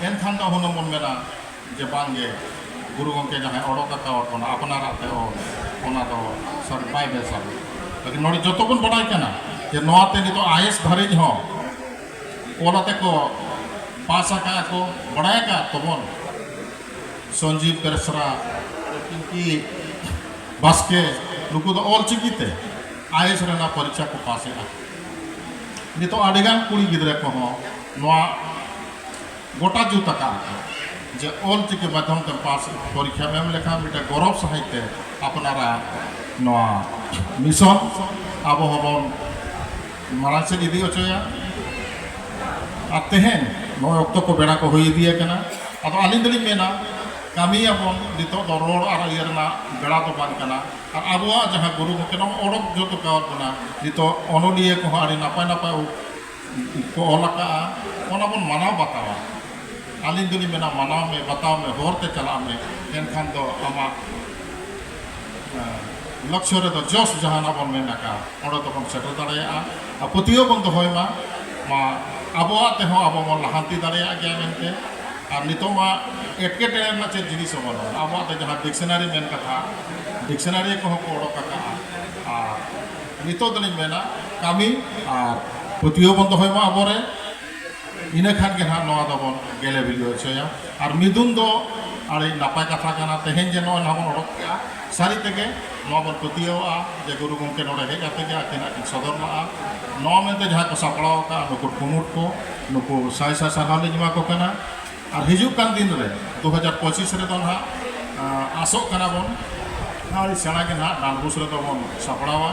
ᱮᱱᱠᱷᱟᱱ ᱫᱚ ᱦᱩᱱᱟᱹᱝ ᱵᱚᱱ ᱢᱮᱱᱟ ᱡᱮ ᱵᱟᱝᱜᱮ ᱜᱩᱨᱩ ᱜᱚᱢᱠᱮ ᱡᱟᱦᱟᱸᱭ ᱚᱰᱚᱠ ᱟᱠᱟᱣᱟᱫ ᱵᱚᱱᱟ ᱟᱯᱱᱟᱨᱟᱜ ᱛᱮ ᱚᱞ ᱚᱱᱟ ᱫᱚ ᱥᱟᱹᱨᱤ ᱵᱟᱭ ᱵᱮᱥᱟ ᱞᱮᱠᱤᱱ ᱱᱚᱰᱮ ᱡᱚᱛᱚ ᱵᱚᱱ ᱵᱟᱰᱟᱭ ᱠᱟᱱᱟ ᱡᱮ ᱱᱚᱣᱟᱛᱮ ᱱᱤᱛᱚᱜ ᱟᱭᱮᱥ ᱫᱷᱟᱹᱨᱤᱡ ᱦᱚᱸ ᱚᱞ ᱟᱛᱮ ᱠᱚ ᱯᱟᱥ ᱟᱠᱟᱫ ᱠᱚ ᱵᱟᱰᱟᱭ ᱟᱠᱟᱫ ᱛᱟᱵᱚᱱ ᱥᱚᱧᱡᱤᱵᱽ ᱵᱮᱥᱨᱟ ᱯᱤᱝᱠᱤ ᱵᱟᱥᱠᱮ ᱱᱩᱠᱩ ᱫᱚ ᱚᱞᱪᱤᱠᱤ ᱛᱮ ᱟᱭ ᱮᱥ ᱨᱮᱱᱟᱜ ᱯᱚᱨᱤᱠᱷᱟ ᱠᱚ ᱯᱟᱥ ᱮᱫᱟ ᱱᱤᱛᱚᱜ ᱟᱹᱰᱤᱜᱟᱱ ᱠᱩᱲᱤ ᱜᱤᱫᱽᱨᱟᱹ ᱠᱚᱦᱚᱸ ᱱᱚᱣᱟ ᱜᱚᱴᱟ ᱡᱩᱛ ᱟᱠᱟᱫ ᱠᱚ ᱡᱮ ᱚᱞᱪᱤᱠᱤ ᱢᱟᱫᱽᱫᱷᱚᱢ ᱛᱮ ᱯᱟᱥ ᱯᱚᱨᱤᱠᱷᱟ ᱮᱢ ᱞᱮᱠᱷᱟᱱ ᱢᱤᱫᱴᱮᱱ ᱜᱚᱨᱚᱵᱽ ᱥᱟᱺᱦᱤᱡ ᱛᱮ ᱟᱯᱱᱟᱨᱟᱜ ᱱᱚᱣᱟ ᱢᱤᱥᱚᱱ ᱟᱵᱚ ᱦᱚᱸᱵᱚᱱ ᱢᱟᱲᱟᱝ ᱥᱮᱫ ᱤᱫᱤ ᱦᱚᱪᱚᱭᱟ ᱟᱨ ᱛᱮᱦᱮᱧ ᱱᱚᱜᱼᱚᱭ ᱚᱠᱛᱚ ᱠᱚ ᱵᱮᱲᱟ ᱠᱚ ᱦᱩᱭ ᱤᱫᱤ ᱟᱠᱟᱱᱟ ᱟᱫᱚ ᱟᱹᱞᱤᱧ ᱫᱚᱞᱤᱧ ᱢᱮᱱᱟ ᱠᱟᱹᱢᱤᱭᱟᱵᱚᱱ ᱱᱤᱛᱚᱜ ᱫᱚ ᱨᱚᱲ ᱟᱨ ᱤᱭᱟᱹ ᱨᱮᱱᱟᱜ ᱵᱮᱲᱟ ᱫᱚ ᱵᱟᱝ ᱠᱟᱱᱟ ᱟᱨ ᱟᱵᱚᱣᱟᱜ ᱡᱟᱦᱟᱸ ᱜᱩᱨᱩ ᱜᱚᱢᱠᱮ ᱱᱚᱣᱟ ᱚᱰᱚᱠ ᱡᱚᱛᱚ ᱠᱟᱣᱟᱫ ᱵᱚᱱᱟ ᱱᱤᱛᱚᱜ ᱚᱱᱚᱞᱤᱭᱟᱹ ᱠᱚᱦᱚᱸ ᱟᱹᱰᱤ ᱱᱟᱯᱟᱭ ᱱᱟᱯᱟᱭ ᱠᱚ ᱚᱞ ᱟᱠᱟᱫᱼᱟ ᱚᱱᱟ ᱵᱚᱱ ᱢᱟᱱᱟᱣ ᱵᱟᱛᱟᱣᱟ ᱟᱹᱞᱤᱧ ᱫᱚᱞᱤᱧ ᱢᱮᱱᱟ ᱢᱟᱱᱟᱣ ᱢᱮ ᱵᱟᱛᱟᱣ ᱢᱮ ᱦᱚᱨᱛᱮ ᱪᱟᱞᱟᱜ ᱢᱮ ᱮᱱᱠᱷᱟᱱ ᱫᱚ ᱟᱢᱟᱜ ᱞᱚᱠᱥᱚ ᱨᱮᱫᱚ ᱡᱚᱥ ᱡᱟᱦᱟᱱᱟᱜ ᱵᱚᱱ ᱢᱮᱱ ᱟᱠᱟᱫ ᱚᱸᱰᱮ ᱫᱚᱵᱚᱱ ᱥᱮᱴᱮᱨ ᱫᱟᱲᱮᱭᱟᱜᱼᱟ ᱟᱨ ᱯᱟᱹᱛᱭᱟᱹᱣ ᱵᱚᱱ ᱫᱚᱦᱚᱭ ᱢᱟ ᱢᱟ ᱟᱵᱚᱣᱟᱜ ᱛᱮᱦᱚᱸ ᱟᱵᱚ ᱵᱚᱱ ᱞᱟᱦᱟᱱᱛᱤ ᱫᱟᱲᱮᱭᱟᱜ ᱜᱮᱭᱟ ᱢᱮᱱᱛᱮ ᱟᱨ ᱱᱤᱛᱚᱜ ᱢᱟ ᱮᱴᱠᱮᱴᱚᱬᱮ ᱨᱮᱱᱟᱜ ᱪᱮᱫ ᱡᱤᱱᱤᱥ ᱦᱚᱸ ᱵᱟᱹᱱᱩᱜᱼᱟ ᱟᱵᱚᱣᱟᱜ ᱫᱚ ᱡᱟᱦᱟᱸ ᱰᱤᱠᱥᱚᱱᱟᱨᱤ ᱢᱮᱱ ᱠᱟᱛᱷᱟ ᱰᱤᱠᱥᱚᱱᱟᱨᱤ ᱠᱚᱦᱚᱸ ᱠᱚ ᱚᱰᱚᱠ ᱟᱠᱟᱫᱼᱟ ᱟᱨ ᱱᱤᱛᱚᱜ ᱫᱚᱞᱤᱧ ᱢᱮᱱᱟ ᱠᱟᱹᱢᱤ ᱟᱨ ᱯᱟᱹᱛᱭᱟᱹᱣ ᱵᱚᱱ ᱫᱚᱦᱚᱭ ᱢᱟ ᱟᱵᱚᱨᱮ ᱤᱱᱟᱹ ᱠᱷᱟᱱ ᱜᱮ ᱱᱟᱦᱟᱜ ᱱᱚᱣᱟ ᱫᱚᱵᱚᱱ ᱜᱮᱞᱮ ᱵᱤᱞᱤ ᱦᱚᱪᱚᱭᱟ ᱟᱨ ᱢᱤᱫᱩᱱ ᱫᱚ ᱟᱹᱰᱤ ᱱᱟᱯᱟᱭ ᱠᱟᱛᱷᱟ ᱠᱟᱱᱟ ᱛᱮᱦᱮᱧ ᱡᱮ ᱱᱚᱜᱼᱚᱭ ᱱᱟᱦᱟᱜ ᱵᱚᱱ ᱚᱰᱚᱠ ᱠᱮᱜᱼᱟ ᱥᱟᱹᱨᱤ ᱛᱮᱜᱮ ᱱᱚᱣᱟ ᱵᱚᱱ ᱯᱟᱹᱛᱭᱟᱹᱣᱟᱜᱼᱟ ᱡᱮ ᱜᱩᱨᱩ ᱜᱚᱢᱠᱮ ᱱᱚᱰᱮ ᱦᱮᱡ ᱠᱟᱛᱮ ᱜᱮ ᱟᱹᱠᱤᱱᱟᱜ ᱠᱤᱱ ᱥᱚᱫᱚᱨ ᱞᱟᱜᱼᱟ ᱱᱚᱣᱟ ᱢᱮᱱᱛᱮ ᱡᱟᱦᱟᱸᱭ ᱠᱚ ᱥᱟᱯᱲᱟᱣ ᱠᱟᱜᱼᱟ ᱱᱩᱠᱩ ᱠᱩᱢᱩᱴ ᱠᱚ ᱱᱩᱠᱩ ᱥᱟᱭ ᱥᱟᱭ ᱥᱟᱨᱦᱟᱣ ᱞᱤᱧ ᱮᱢᱟ ᱠᱚ ᱠᱟᱱᱟ ᱟᱨ ᱦᱤᱡᱩᱜ ᱠᱟᱱ ᱫᱤᱱ ᱨᱮ ᱫᱩ ᱦᱟᱡᱟᱨ ᱯᱚᱸᱪᱤᱥ ᱨᱮᱫᱚ ᱱᱟᱦᱟᱜ ᱟᱥᱚᱜ ᱠᱟᱱᱟ ᱵᱚᱱ ᱟᱹᱰᱤ ᱥᱮᱬᱟ ᱜᱮ ᱱᱟᱦᱟᱜ ᱰᱟᱱᱰᱵᱩᱥ ᱨᱮᱫᱚ ᱵᱚᱱ ᱥᱟᱯᱲᱟᱣᱟ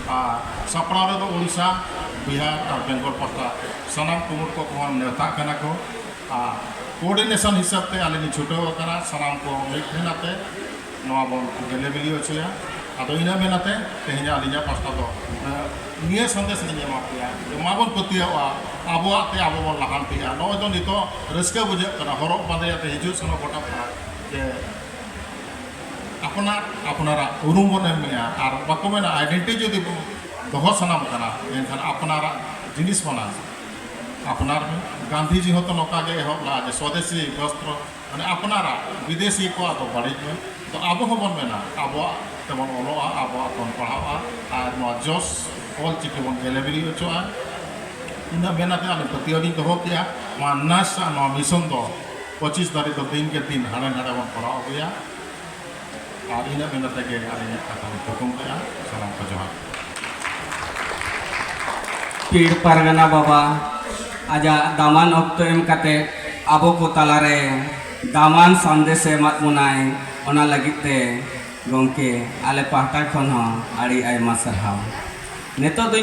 ᱟᱨ ᱥᱟᱯᱲᱟᱣ ᱨᱮᱫᱚ ᱳᱰᱤᱥᱟ ᱵᱤᱦᱟᱨ ᱟᱨ ᱵᱮᱝᱜᱚᱞ ᱯᱟᱦᱴᱟ ᱥᱟᱱᱟᱢ ᱠᱩᱢᱩᱴ ᱠᱚ ᱠᱚᱦᱚᱸ ᱱᱮᱣᱛᱟᱜ ᱠᱟᱱᱟ ᱠᱚ ᱟᱨ ᱠᱳᱨᱰᱤᱱᱮᱥᱚᱱ ᱦᱤᱥᱟᱹᱵ ᱛᱮ ᱟᱞᱮ ᱞᱮ ᱪᱷᱩᱴᱟᱹᱣ ᱟᱠᱟᱱᱟ ᱥᱟᱱᱟᱢ ᱠᱚ ᱢᱤᱫ ᱴᱷᱮᱱ ᱟᱛᱮᱫ ᱱᱚᱣᱟ ᱵᱚᱱ ᱜᱮᱞᱮ ᱵᱤᱞᱤ ᱦᱚᱪᱚᱭᱟ ᱟᱫᱚ ᱤᱱᱟᱹ ᱢᱮᱱ ᱟᱛᱮ ᱛᱮᱦᱮᱧ ᱟᱹᱞᱤᱧᱟᱜ ᱯᱟᱥᱴᱟ ᱫᱚ ᱱᱤᱭᱟᱹ ᱥᱟᱸᱫᱮᱥ ᱞᱤᱧ ᱮᱢᱟ ᱯᱮᱭᱟ ᱢᱟ ᱵᱚᱱ ᱯᱟᱹᱛᱭᱟᱹᱜᱼᱟ ᱟᱵᱚᱣᱟᱜ ᱛᱮ ᱟᱵᱚ ᱵᱚᱱ ᱞᱟᱦᱟᱱᱛᱤᱜᱼᱟ ᱱᱚᱜᱼᱚᱭ ᱫᱚ ᱱᱤᱛᱚᱜ ᱨᱟᱹᱥᱠᱟᱹ ᱵᱩᱡᱷᱟᱹᱜ ᱠᱟᱱᱟ ᱦᱚᱨᱚᱜ ᱵᱟᱸᱫᱮ ᱟᱛᱮ ᱦᱤᱡᱩᱜ ᱥᱮᱱᱚᱜ ᱜᱚᱴᱟ ᱯᱟᱲᱟ ᱡᱮ ᱟᱯᱱᱟᱨ ᱟᱯᱱᱟᱨᱟᱜ ᱩᱨᱩᱢ ᱵᱚᱱ ᱮᱢᱮᱜᱼᱟ ᱟᱨ ᱵᱟᱠᱚ ᱢᱮᱱᱟ ᱟᱭᱰᱮᱱᱴᱤ ᱡᱩᱫᱤ ᱫᱚᱦᱚ ᱥᱟᱱᱟᱢ ᱠᱟᱱᱟ ᱮᱱᱠᱷᱟᱱ ᱟᱯᱱᱟᱨᱟᱜ ᱡᱤᱱᱤᱥ ᱠᱟᱱᱟ ᱟᱯᱱᱟᱨ ᱜᱟᱱᱫᱷᱤᱡᱤ ᱦᱚᱸᱛᱚ ᱱᱚᱝᱠᱟ ᱜᱮ ᱮᱦᱚᱵ ᱞᱟᱜᱼᱟ ᱡᱮ ᱥᱚᱫᱮᱥᱤ ᱵᱚᱥᱛᱨᱚ ᱢᱟᱱᱮ ᱟᱯᱱᱟᱨᱟᱜ ᱵᱤᱫᱮᱥᱤ ᱠᱚᱣᱟᱜ ᱫᱚ ᱵᱟᱹᱲᱤᱡ ᱢᱮ ᱛᱚ ᱟᱵᱚ ᱦᱚᱸᱵᱚᱱ ᱢᱮᱱᱟ ᱟᱵᱚᱣᱟᱜ ᱛᱮᱵᱚᱱ ᱚᱞᱚᱜᱼᱟ ᱟᱵᱚᱣᱟᱜ ᱵᱚᱱ ᱯᱟᱲᱦᱟᱜᱼᱟ ᱟᱨ ᱱᱚᱣᱟ ᱡᱚᱥ ᱚᱞ ᱪᱤᱠᱤ ᱵᱚᱱ ᱜᱮᱞᱮ ᱵᱤᱞᱤ ᱦᱚᱪᱚᱜᱼᱟ ᱤᱱᱟᱹ ᱢᱮᱱ ᱠᱟᱛᱮ ᱟᱹᱞᱤᱧ ᱯᱟᱹᱛᱭᱟᱹᱣ ᱞᱤᱧ ᱫᱚᱦᱚ ᱠᱮᱜᱼᱟ ᱱᱚᱣᱟ ᱱᱟᱨᱥ ᱟᱜ ᱱᱚᱣᱟ ᱢᱤᱥᱚᱱ ᱫᱚ ᱯᱚᱸᱪᱤᱥ ᱫᱷᱟᱹᱨᱤᱡ ᱫᱚ ᱫᱤᱱ ᱠᱮ ᱫᱤᱱ ᱦᱟᱸᱰᱮ ᱱᱟᱸᱰᱮ ᱵᱚᱱ ᱠᱚᱨᱟᱣ ᱟᱹᱜᱩᱭᱟ ᱟᱨ ᱤᱱᱟᱹ ᱢᱮᱱ ᱠᱟᱛᱮ ᱜᱮ ᱟᱹᱞᱤᱧ ᱢᱤᱫ ᱠᱟᱛᱷᱟ ᱞᱤᱧ ᱛᱷᱩᱠᱩᱢ ᱠᱮᱫᱼᱟ ᱥᱟᱱᱟᱢ ᱠᱚ ᱡᱚᱦᱟᱨ ᱯᱤᱲ ᱯᱟᱨᱜᱟᱱᱟ ᱵᱟᱵᱟ ᱟᱡᱟᱜ ᱫᱟᱢᱟᱱ ᱚᱠᱛᱚ ᱮᱢ ᱠᱟᱛᱮ ᱟᱵᱚ ᱠᱚ ᱛᱟᱞᱟᱨᱮ ᱫᱟᱢᱟᱱ ᱥᱟᱸᱫᱮᱥ ᱮᱢᱟᱫ ᱵᱚᱱᱟᱭ ᱚᱱᱟ ᱞᱟᱹᱜᱤᱫ ᱛᱮ ᱜᱚᱢᱠᱮ ᱟᱞᱮ ᱯᱟᱦᱴᱟ ᱠᱷᱚᱱ ᱦᱚᱸ ᱟᱹᱰᱤ ᱟᱭᱢᱟ ᱥᱟᱨᱦᱟᱣ ᱱᱤᱛᱚᱜ ᱫᱚᱧ